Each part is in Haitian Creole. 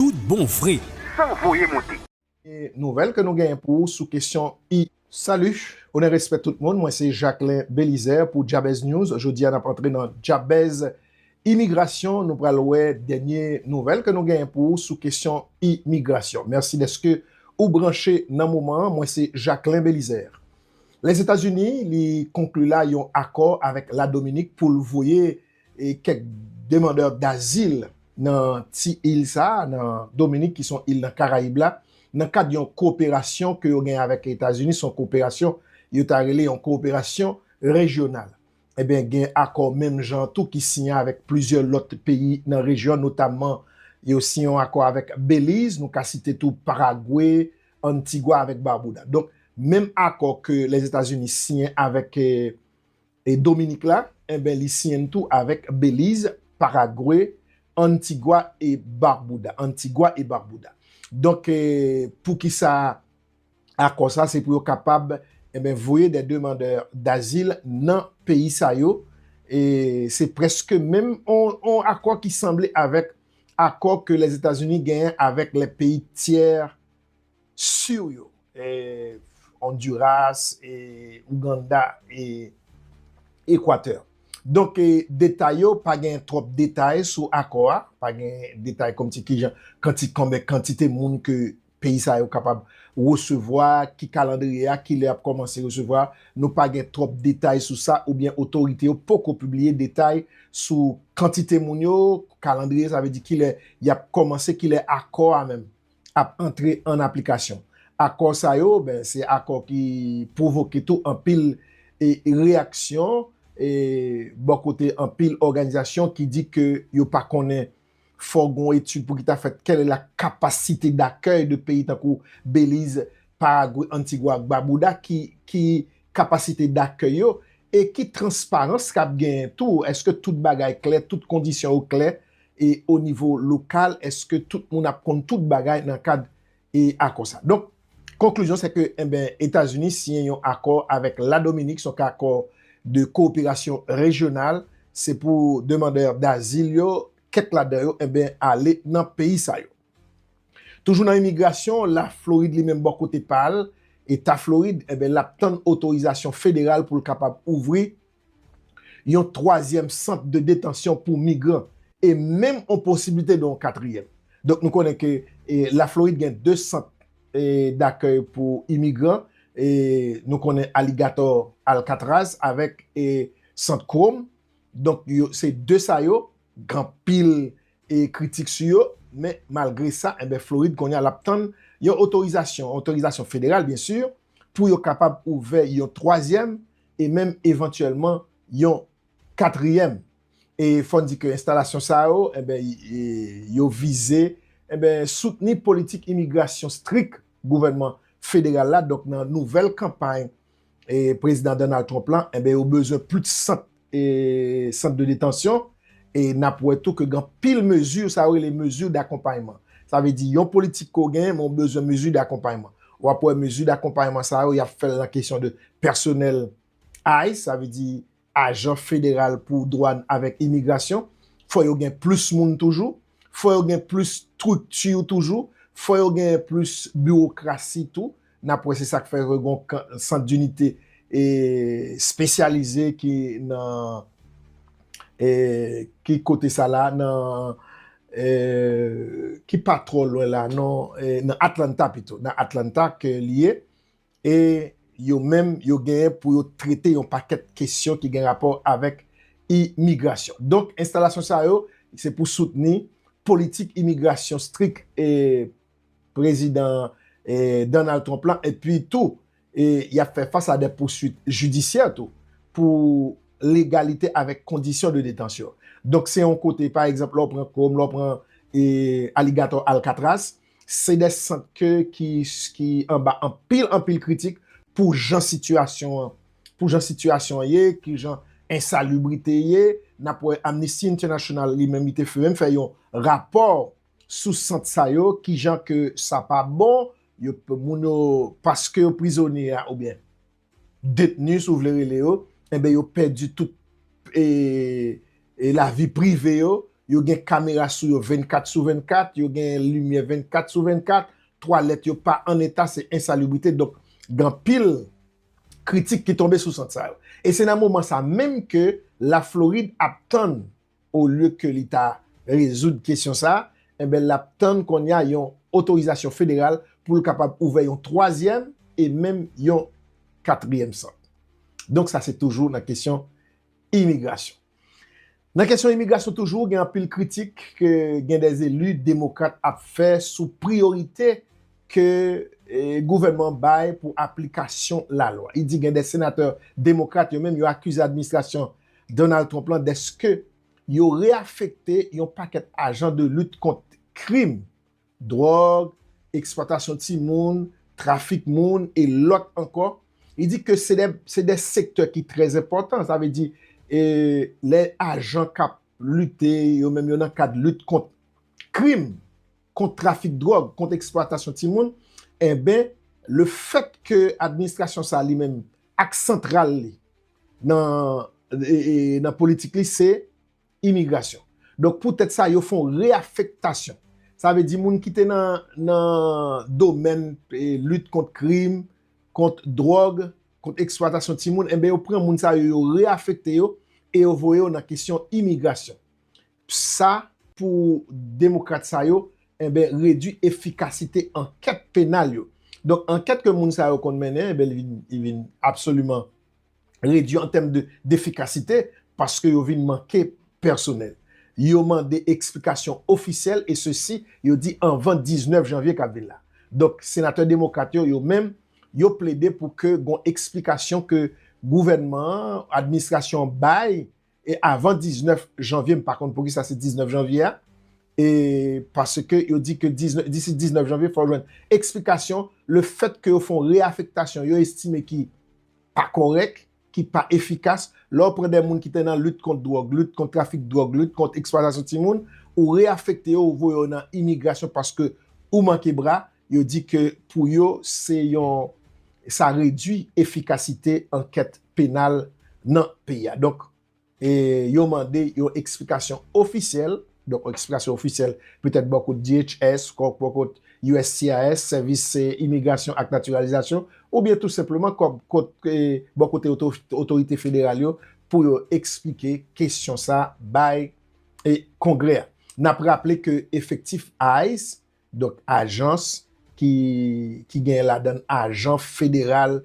tout bon vre. San voye monte. Gen nouvèl ke nou genyen pou ou sou kesyon I. Salut, onè respè tout moun, mwen se Jacquelin Belizaire pou Jabez News, jodi a nap antre nan Jabez Imigrasyon, nou pral wè dènye nouvèl ke nou genyen pou ou sou kesyon imigrasyon. Mèsi dèske ou branche nan moman an, mwen se Jacquelin Belizaire. Lèzetazini li konkli la yon akò avèk Ladominik pou l voye E kèk demandè dazil nan ti il sa a, nan Dominik ki son il nan Karayib la, nan kad yon koperasyon ke yo gen avèk Etazini, son koperasyon yo ta rele yon koperasyon rejyonal. Enben gen akò menm jan an tou ki siyen avèk plizyè lòt peyi nan rejyon an, notamman yo siyen yon akò avèk Beliz, nou ka site tou Paragwe, Antigwa avèk Barbouda. Donk menm akò ke Lèzetazini siyen avèk E Dominik la? Enben li siyen tou avèk Beliz, Paragwe, Antigwa e Barbouda, Antigua y Barbuda. Donk poukisa akò sa? Se pou yo kapab enben voye dè demandè dazil nan peyi sa yo. E se prèske menm yon akò ki sanble avèk akò ke Lèzetazini genyen avèk lè peyi tyè sur yo. Honduras, Ouganda e Equateur. Donk detay yo, pa gen twòp detay sou akò a, pa gen detay kòm si kijan kanti konbè kantite moun ke peyi sa yo kapab resevwa, ki kalandriye a, kilè yap kòmanse resevwa, nou pa gen twòp detay sou sa oubyen otorite yo poko pibliye detay sou kantite moun yo, kalandriye sa vle di kilè yap kòmanse, kilè akò a menm ap antre an aplikasyon. Akò sa yo, ben, se akò ki pwovoke tou anpil reyaksyon bò kote anpil òganizasyon ki di ke yo pa konnen fò gen yon etid pou ki ta fèt kèlè la kapasite dakèy de peyi tankou Beliz, Paragwe, Antigwa ak Babouda ki kapasite dakèy yo e ki transparans k ap genyen tou, èske tout bagay klè, tout kondisyon yo klè e o nivo lokal eske tout moun ap konn tout bagay nan kad e akò sa. Donk konklizyon se ke enben Etazini siyen yon akò avèk la Dominik son akò de koperasyon rejyonal se pou demandè dazil yo kèk ladan yo enben ale nan peyi sa yo. Toujou nan imigrasyon la Florid li menm bò kote pa l, eta Florid enben l ap tann otorizasyon federal pou l kapab ouvri yon twazyèm sant de detansyon pou migran e menm yon posiblite de yon katriyèm. Donk nou konnen ke Laflorid gen 2 sant dakèy pou imigran, nou konnen Aligatò, Alkatraz avèk Sant Krom. Donk se 2 sa yo gen anpil kritik sou yo men malgre sa enben Florid kounye a l ap tann yon otorizasyon, otorizasyon federal byen sur, pou yo kapab ouvè yon twazyèm e menm evantyèlman yon katriyèm. E fò n di ke enstalasyon sa yo, enben, yo vize, enben, soutni politik imigrasyon strik gouvènman federal la, donk nan nouvèl kanpay prezidan Donald Trump lan, enben, yo bezwen plis sant, sant de detansyon, E n ap wè tou ke gen anpil mezi, sa yo rele mezi dakonpayman. Sa vle di yon politik ke w genyen men w bezwen mezi dakonpayman. W ap wè mezi dakonpayman sa yo, y ap fè l nan kesyon de pèsonèl ice, sa vle di ajan federal pou dwàn avèk imigrasyon. Fò yo gen plis moun toujou. fò yo gen plis strikti toujou, fò yo gen plis biwokrasi tou, n ap wè se sa k fè yo gen sant dinite espesyalize ki nan ki kote sa la, nan ki pa twò lwen la non, nan Atlanta pito, nan Atlanta ke li ye, e yo menm yo genyen pou yo trete yon pakèt kesyon ki gen rapò avèk imigrasyon. Donk, enstalasyon sa yo, se pou soutni politik imigrasyon strik e prezidan Donald Trump la, epi tou, y ap fè fas a dè pouswit jidisyè tou, pou legalite avèk kondisyon de detansyon. Donk, se yon kote, pa egzanp, lè w pran Koum, lè w pran Aligatò Alkatras, Se de sant ke ki anba anpil anpil kritik pou jan sitiyasyon an, pou jan sitiyasyon an ye, ki jan ensalubrite ye. N ap wè Amnesty International li menm li te menm fè yon rapò sou sant sa yo, ki jan ke sa pa bon, yo, moun yo, paske yo prizonye a oubyen. detni si w vle rele yo, enben yo pèdi tout lavi prive yo, yo gen kamera sou yo 24 sou 24, yo gen limyè 24 sou 24, twalèt yo pa an eta, se ensalibrite, donk gen anpil kritik ki tonbe sou sant sa yo. E se nan moman sa menm ke Laflorid ap tann olye ke li ta rezoud kesyon sa a, enben l ap tann kounye a yon otorizasyon federal pou l kapab ouvè yon twazyèm e menm yon katriyèm sant. Donk sa se toujou nan kesyon imigrasyon. Nan kesyon imigrasyon toujou, gen anpil kritik ke gen dè eli demokrat ap fè sou priyorite ke gouvènman an bay pou aplikasyon lalwa. Li di gen dè senatè demokrat yo menm yo akize administrasyon Donald Trump lan dèske yo reafekte yon pakèt ajan de lit kont krim, dwòg, eksplwatasyon timoun, trafik moun e lòt ankò, li di ke se de sektè ki trè enpòtan, sa vle di lè ajan k ap lite yo menm yo nan kad lit kont krim, kont trafik dwòg, kont eksplwatasyon timoun, enben lefèt ke administrasyon sa li menm Aks santral li nan politik li se imigrasyon. Donk pou tèt sa yo fon reafektasyon. Sa vle di moun ki te nan domèn lit kont krim, kont dròg, kont eksplwatasyon timoun, enben yo pran moun sa yo, yo reafekte yo e yo voye yo nan kesyon imigrasyon. Sa pou demokrat sa yo enben redwi efikasite ankèt penal yo. Donk ankèt ke moun sa yo konn mennen enben li vin absoliman redwi an tèm defikasite paske yo vin manke pèsonèl. Yo mande eksplikasyon ofisyèl e sesi yo di anvan 19 janvye kap vin la. Donk senatè demokrat yo yo menm yo plede pou ke gon eksplikasyon ke gouvènman an, administrasyon an bay E avan 19 janvye, m pa konn poukisa se 19 janvye a, e paske yo di ke disi 19 janvye fò jwenn eksplikasyon le fèt ke yo fè yon reafektasyon yo estime ki pa kòrèk, ki pa efikas, lè w pran de moun ki te nan lit kont dwòg, lit kont trafik dwòg, lit kont eksplwatasyon timoun, ou reafekte yo, ou voye yo nan imigrasyon paske ou manke bra, Yo di ke pou yo se yon sa redwi efikasite ankèt penal nan peyi a. Donk yo mande yon eksplikasyon ofisyèl, donk yon eksplikasyon ofisyèl petèt bò kot DHS, bò kot uscis, Sèvis Imigrasyon ak Natiralizasyon, oubyen tou senpleman bò kote otorite federal yo pou yo eksplike kesyon sa bay Kongrè a. N ap raple ke efektif ice Donk ajans ki ki genyen ladann ajan federal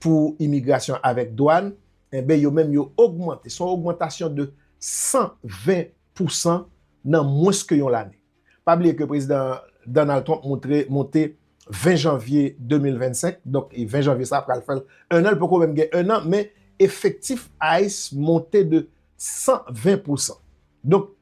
pou imigrasyon avèk dwàn, enben yo menm yo ogmante, se yon ogmantasyon de 120 pousan nan mwens ke yon lane. Pa bliye ke Prezidan Donald Trump moutre monte 20 janvye 2025, donk 20 janvye sa pral fè 1 an, li poko menm gen 1 an, men efektif ice monte de 120 pousan. Donk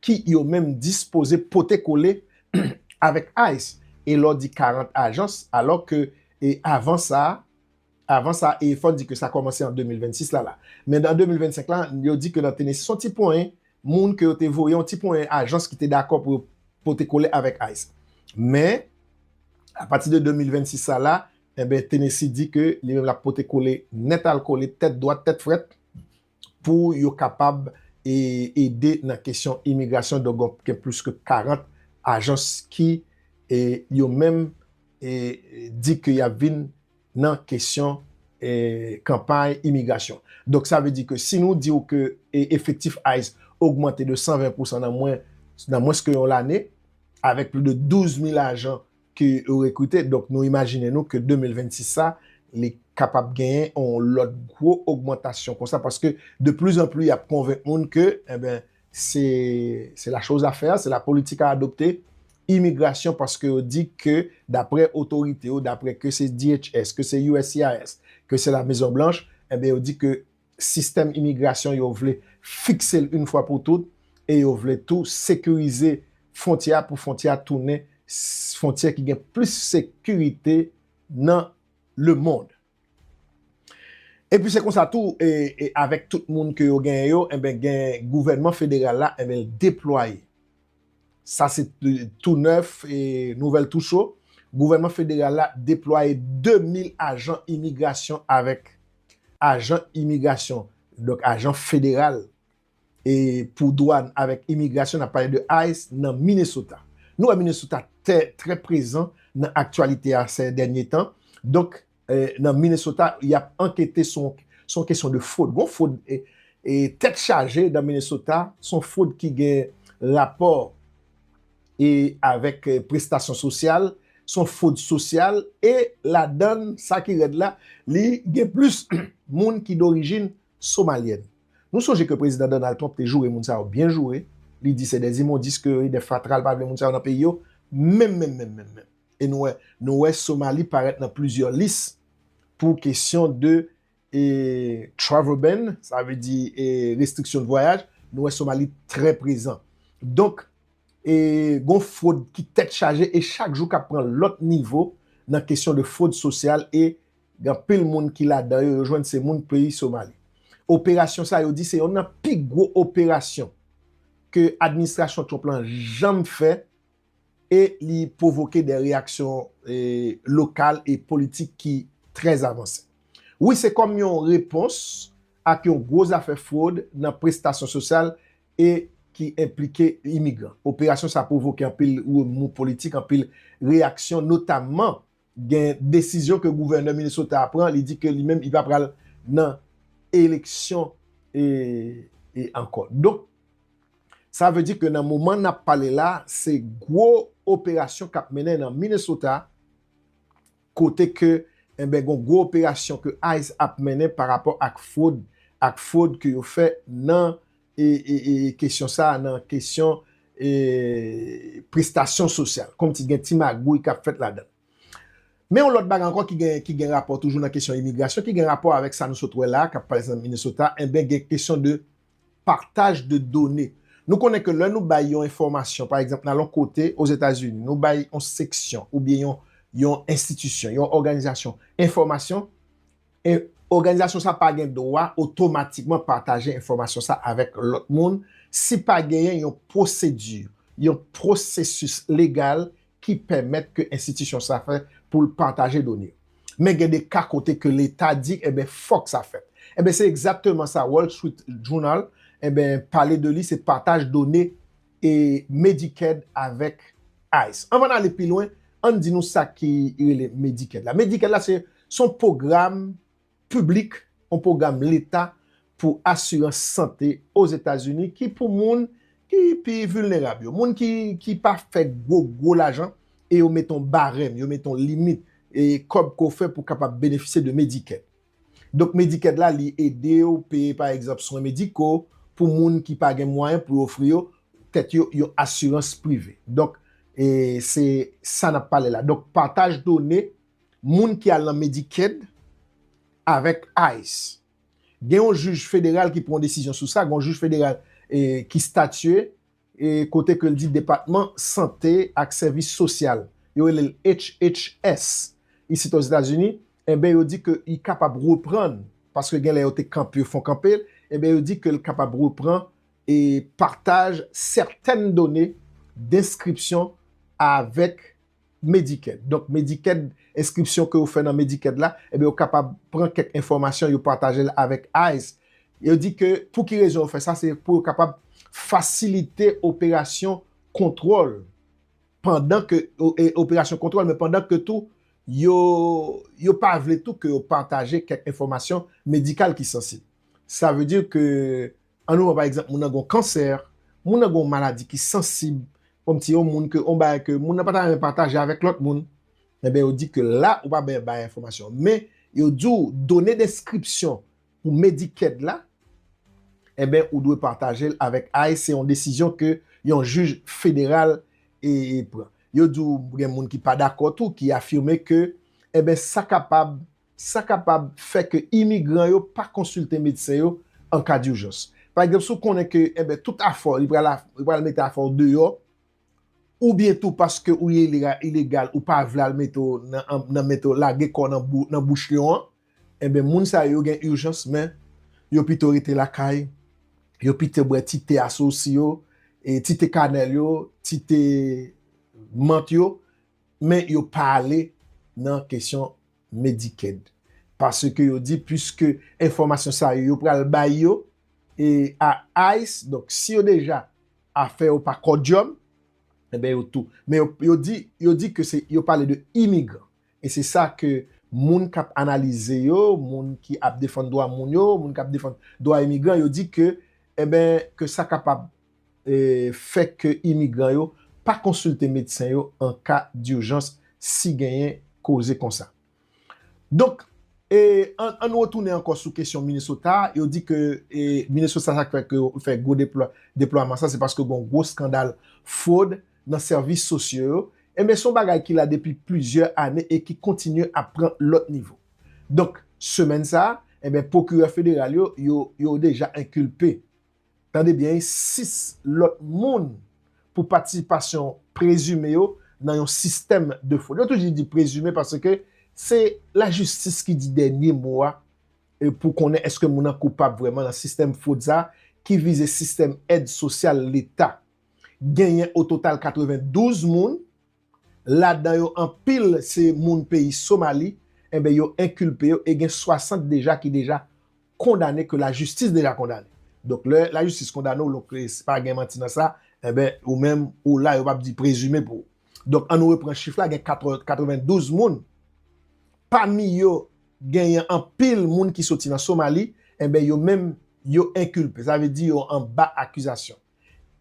ki yo menm dispoze pote kole avèk ice e lè w di 40 ajans alò ke e avan sa avan sa e fò di ke sa kòmanse an 2026 la la men nan 2025 la yo di ke nan Tennessee son ti ponyen moun ke yo te voye yon ti ponyen ajans ki te dakò pou yo pote kole avèk ice men a pati de 2026 sa la enben Tennessee di ke li menm l ap pote kole nèt al kole tèt dwat tèt frèt. pou yo kapab ede nan kesyon imigrasyon donk gen plis ke 40 ajans ki yo menm di ke yap vin nan kesyon kanpay imigrasyon donk sa vle di ke si nou diw ke efektif ice ogmante de 120 pousan nan mwens ke yon lane avèk plis de 12 mil ajan ke yo rekrite, donk nou imajine nou ke 2026 sa, li kapab genyen yon lòt gwo ogmantasyon konsa, paske de pli zan pli y ap konvenk moun ke, enben, se, se la choz a fè, se la politik a adopte, imigrasyon, paske yo di ke, daprè otorite yo, daprè ke se DHS, ke se uscis, ke se la Mezon Blanch, enben yo di ke sistèm imigrasyon yo vle fikse l yn fwa pou tout e yo vle tou sekirize fwontyè a pou fwontyè a tounen fwontyè ki gen plis sekirite nan lemond. Epi se konsa tou avèk tout moun ke yo genyen yo enben gen gouvènman federal la enben l deplwaye Sa se tou nèf e nouvèl tou cho, gouvènman federal la deplwaye 2 mil ajan imigrasyon avèk ajan imigrasyon, donk ajan federal e pou dwàn avèk imigrasyon, n ap pale de ice, nan Minnesota. Nou wè Minnesota tè trè prezan nan aktyalite a sè dènye tan, donk. nan Minnesota yap ankete sou yon kesyon de fwod. Gon fwod tèt chaje nan Minnesota, son fwod ki gen rapò e avèk prestasyon sosyal, son fwod sosyal e ladan l sa ki rèd la, li gen plis moun ki dorijin somalyèn. Nou sonje ke Prezidan Donald Trump te joure moun sa yo byen joure, li di se des immondices ke yo ye, des fatra, li pa vle moun sa yo nan peyi yo, menm menm menm menm menm. e nou wè nou wè Somali parèt nan plizyè lis pou kesyon de e travel ban sa vle di e restriksyon de vwayaj nou wè Somali trè prezan donk e gon fwod ki tèt chaje e chak jou kap pran lòt nivo nan kesyon de fwod sosyal e gen anpil moun ki ladan yo yo jwenn se moun peyi Somali operasyon sa yo di se yonn nan pi gwo operasyon ke administrasyon Trump lan janm fè e li pwovoke de reyaksyon lokal e politik ki trè avanse. Wi, se kòm yon repons ak yon gwo zafè fwod nan prestasyon sosyal e ki enplike imigran. Operasyon sa pwovoke anpil remou politik, anpil reyaksyon, notamman Gen desizyon ke gouvènè Minnesota a pran, li di ke li menm li pa pral nan eleksyon ankò. Donk, sa vle di ke nan moman n ap pale la, se gwo operasyon k ap mennen nan Minnesota, kote ke enben gon gwo operasyon ke ice ap mennen parapò ak fwod, ak fwod ke yo fè nan. kesyon sa a nan kesyon prestasyon sosyal, kòm si gen ti magouy k ap fèt ladan. Men yon lòt bagay ankò ki gen rapò toujou nan kesyon imigrasyon, ki gen rapò avèk sa nou sot wè la a, k ap pase nan Minnesota, enben gen kesyon de pataj de done. Nou konnen ke lè nou bay yon enfòmasyon, pa egzanp, nan yon kote Ozetazini, nou bay yon seksyon oubyen yon enstitisyon, yon òganizasyon, enfòmasyon, E òganizasyon sa pa gen dwa otomatikman pataje enfòmasyon sa avèk lòt moun si pa genyen yon pwosedi, yon pwosesis legal ki pèmèt ke enstitisyon sa fè pou l pataje done yo. Men gen de ka kote ke leta di enben fòk sa fèt. Enben se egzatteman sa Wall Street Journal enben pale de li se pataj done e Medicaid avèk ice. Anvan n ale pi lwen, an n di nou sa ki rele Medicaid la. Medicaid la se yon pwogram piblik, yon pwogram leta pou asirans sante Ozetazini ki pou moun ki pi vilnerab yo, moun ki pa fè gwo gwo lajan e yo mete yon barèm, yo mete yon limit kòb ke w fè pou w kapab benefisye de Medicaid. Donk Medicaid la li ede w peye pa egzanp swen mediko pou moun ki pa gen mwayen pou yo ofri yo tèt yo yon asirans prive. Donk e se sa nap pale la. Donk pataj done moun ki al nan Medicaid avèk ice. Gen yon jij federal ki pran yon desizyon sou sa, gen yon jij federal e ki statye kote ke l di Depatman Sante ak Sèvis Sosyal, yo rele l HHS, isit Ozetazini, enben yo di ke li kapab reprann, paske gen lè yo te kanpe, yo fon kanpe, enben yo di ke l kapab repran e pataj sètèn done denskripsyon avèk Medicaid. Donk Medicaid, enskripsyon ke ou fè nan Medicaid la, enben ou kapab pran kèk enfòmasyon yo pataje l avèk ice. Yo di ke pou ki rezon yo fè sa, se pou yo kapab fasilite operasyon kontwòl pandan ke, operasyon kontwòl, men pandan ke tou yo, yo pa vle tou ke yo pataje kèk enfòmasyon medikal ki sansib. Sa vle di ke An nou pran pa egzanp moun nan gen yon kansè, moun nan gen yon maladi ki sansib, kòm se yon moun ke yon bagay ke moun nan pa ta renmen pataje avèk lòt moun, enben yo di ke la ou pa bè bay enfòmasyon an. Men, yo di w done deskripsyon pou Medicaid la, enben ou dwe pataje l avèk ice, se yon desizyon ke yon jij federal e pran. Yo di w gen moun ki pa dakò tou, ki afime ke, enben sa kapab Sa kapab fè ke imigran yo pa konsilte medsen yo an ka durjans. Pa egzanp, si w konnen ke enben tout afè w, li pral li pral mete afè w deyò, oubyen tou paske ou ye ilegal ou pa vle al mete w nan nan mete w lage kò w nan bou nan bouch lyon an, enben moun sa yo yo gen urjans men yo pito rete lakay, yo pito bwè ti te asosi yo, ti te kanèl yo, ti te mant yo, Men yo pa ale nan kesyon Medicaid. Paske yo di puiske enfòmasyon sa yo yo pral bay yo e a ice donk si yo deja afè yo pa kòdyòm enben yo tou. Men yo di yo di ke se yo pale de imigran. E se sa ke moun k ap analize yo, moun ki ap defann dwa moun yo, moun k ap defann dwa imigran yo di ke enben ke sa kapab fè ke imigran yo pa konsilte medsen yo an ka durjans si genyen koze konsa. Donk, an nou retounen ankò sou kesyon Minnesota a, yo di ke Minnesota sa k fè ke yo fè gwo deplwaman sa se paske gon gwo skandal fwod nan sèvis sosyo yo, enben son bagay ki la depi plizyè ane e ki kontinye ap pran lòt nivo. Donk, semèn sa, enben pwokirè federal yo, yo deja enkilpe. Tande byen wi 6 lòt moun pou patisipasyon prezime yo nan yon sistèm de fwod. Yo toujou di prezime paske se lajistis ki di dènye mo a pou konnen eske moun nan koupab vrèman nan sistèm fwod sa a ki vize sistèm èd sosyal leta. Genyen ototal 92 moun. ladan yo anpil se moun peyi Somali, enben yo enkilpe yo e gen 60 deja ki deja kondane ke lajistis deja kondane. Donk lè lajistis kondane w donk pa gen manti nan sa, enben ou menm ou la yo pa p di prezime pou ou. Donk an nou repran chif la gen 92 moun, pami yo genyen anpil moun ki soti nan Somali, enben yo menm yo enkilpe, sa vle di yo anba akizasyon.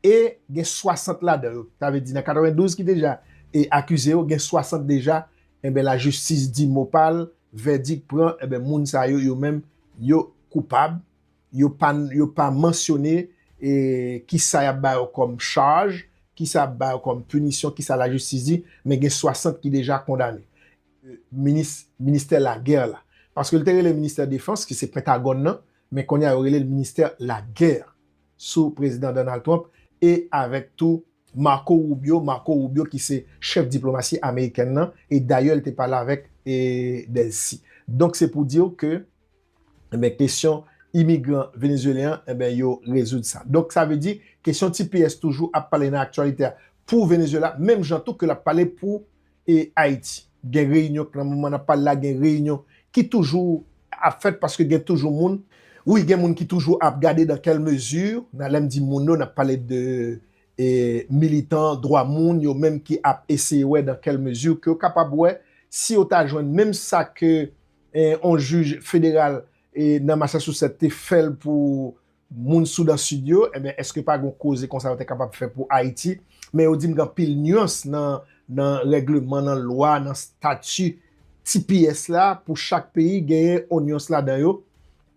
e gen 60 ladan yo, sa vle di nan 92 ki deja e akize yo gen 60 deja enben lajistis di mo pa l, vèdik pran enben moun sa yo yo menm yo koupab, yo pa yo pa mansyone e kisa y ap ba yo kòm chaj, kisa y ap ba yo kòm pinisyon, kisa lajistis di, men gen 60 ki deja kondane. Minis ministè lagè la. Paske l te rele ministè defans ki se pentagòn nan, men kounye a yo rele l ministè lagè. sou Prezidan Donald Trump e avèk tou Marco Rubio, Marco Rubio ki se chèf diplomasi amerikèn nan e dayè li te pale avèk e Delcy. Donk se pou di w ke enben kesyon imigran venezuelyen an enben yo rezoud sa. Donk sa vle di kesyon tps toujou ap pale nan aktyalite a pou Venezuela menm jan tou ke l ap pale pou e Ayiti. Gen reyinyon k nan moman nap pale la gen reyinyon ki toujou ap fèt paske gen toujou moun. Wi gen moun ki toujou ap gade dan kèl mezi nan lèm di moun yo nap pale de e militan dwa moun yo menm ki ap eseye wè dan kèl mezi ke yo kapab wè si yo ta jwenn menm sa ke e on jij federal e nan Massachusetts te fèl pou Moun Soudan Sid yo, enben èske pa gon koze konsa yo te kapab fè pou Ayiti? Men yo di m gen anpil nuans nan nan règleman, nan lwa, nan stati tps la pou chak peyi genyen on nuans ladan yo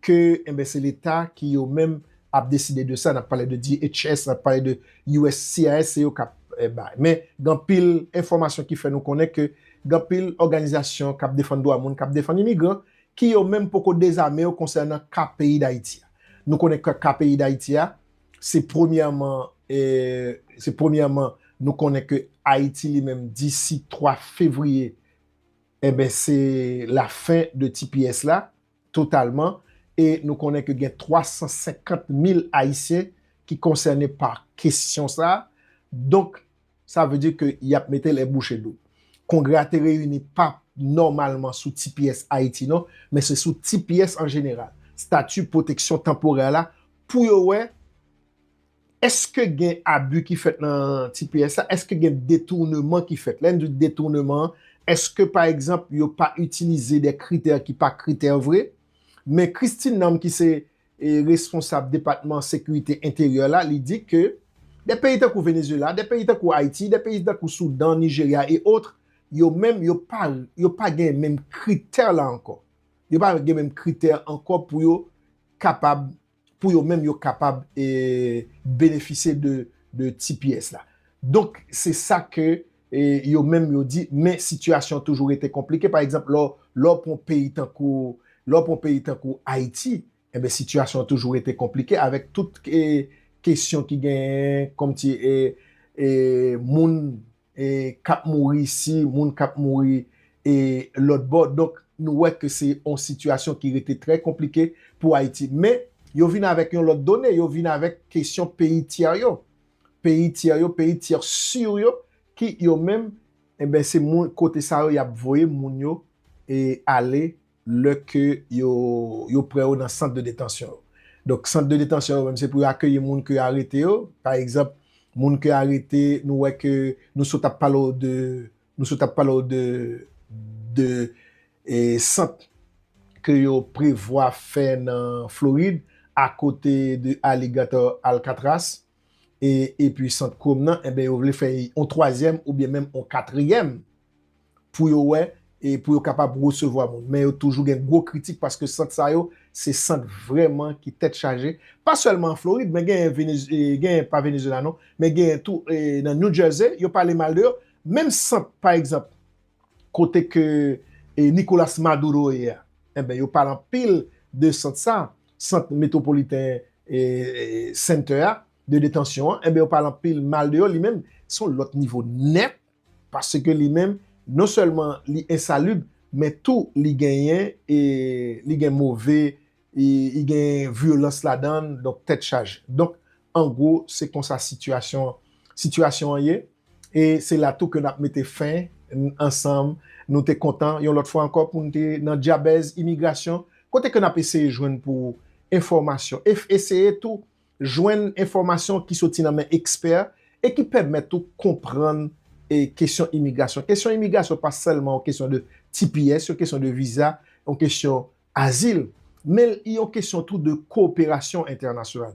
ke enben se leta ki yo menm ap deside de sa, n ap pale de DHS, n ap pale de uscis se yo k ap bay. Men gen anpil enfòmasyon ki fè nou konnen ke gen anpil òganizasyon k ap defann dwa moun, k ap defann imigran ki yo menm poko dezame yo konsènan ka peyi Dayiti a. Nou konnen ke ka peyi Dayiti a, se premyèman, se premyèman nou konnen ke Ayiti li menm disi 3 fevriye, enben se la fen de tps la totalman e nou konnen ke gen 350 mil Ayisyen ki konsène pa kesyon sa a. Donk, Sa vle di ke y ap mete lè bouche dou. Kongrè a te reyini pa nòmalman sou tps Ayiti non, men se sou tps an jeneral, Stati Pwoteksyon Tanporè la, pou yo wè èske gen abi ki fèt nan tps la, èske gen detournement ki fèt. Lè n di detournement an, èske pa egzanp yo pa itilize de kritè ki pa kritè vre? Men Christine Nam ki se responsab depatman sekirite enteryè la, li di ke de peyi tankou Venezuela, de peyi tankou Ayiti, de peyi tankou Soudan, Nijerya e otre, yo menm yo pa yo pa gen menm kritè la ankò. Yo pa gen menm kritè ankò pou yo kapab, pou yo menm yo kapab benefisye de tps la. Donk se sa ke E yo menm yo di, men sitiyasyon an toujou rete konplike. Pa egzanp, lè w pran yon peyi tankou, lè w pran yon peyi tankou Ayiti, enben sitiyasyon an toujou rete konplike avèk tout kesyon ki genyen kòmsi moun k ap mouri isi, moun k ap mouri lòtbò. Donk, nou wè ke se yon sitiyasyon ki rete trè konplike pou Ayiti. Men, yo vin avèk yon lòt done, yo vin avèk kesyon peyi tyè yo. peyi tyè yo, peyi tyè sur yo ki yo menm enben se moun kote sa yo y ap voye moun yo e ale lè ke yo yo pran yo nan sant de detansyon yo. Donk sant de detansyon yo menm se pou yo akeyi moun ke arete yo, pa egzanp moun ke arete nou wè ke nou sot ap pale w de Nou sot ap pale w de de sant ke yo prevwa fè nan Florid akote de Alligator Alcatraz e epi sant Chrome nan enben yo vle fè yon twazyèm oubyen menm yon katriyèm pou yo wè e pou yo kapab resevwa moun men yo toujou gen gwo kritik paske sant sa yo se sant vrèman ki tèt chaje pa sèlman an Florid men genyen Vene genyen pa Venezuela non men genyen tou nan New Jersey yo pale mal de yo Menm sant pa egzanp kote ke Nicolas Maduro ye a, enben yo pale anpil de sant sa, sant Metropolitan Center a, de detansyon an, enben yo pale anpil mal de yo, li menm se yon lòt nivo nèt, paske li menm non sèlman li ensalib, men tou li genyen, li gen move I gen vyolans ladan l, donk tèt chaje. Donk, an gwo, se konsa sitiyasyon sitiyasyon an ye. E se la tou ke n ap mete fen ansanm. Nou te kontan, yon lòt fwa ankò, pou n te nan Dyabèz Imigrasyon, kote ke n ap eseye jwenn pou ou enfòmasyon, e eseye tou jwenn enfòmasyon ki soti nan men ekspè e ki pèmèt ou konprann kesyon imigrasyon. Kesyon imigrasyon pa sèlman yon kesyon de tps, yon kesyon de viza, yon kesyon Azil, men l yon kesyon tou de kooperasyon entènasyonal.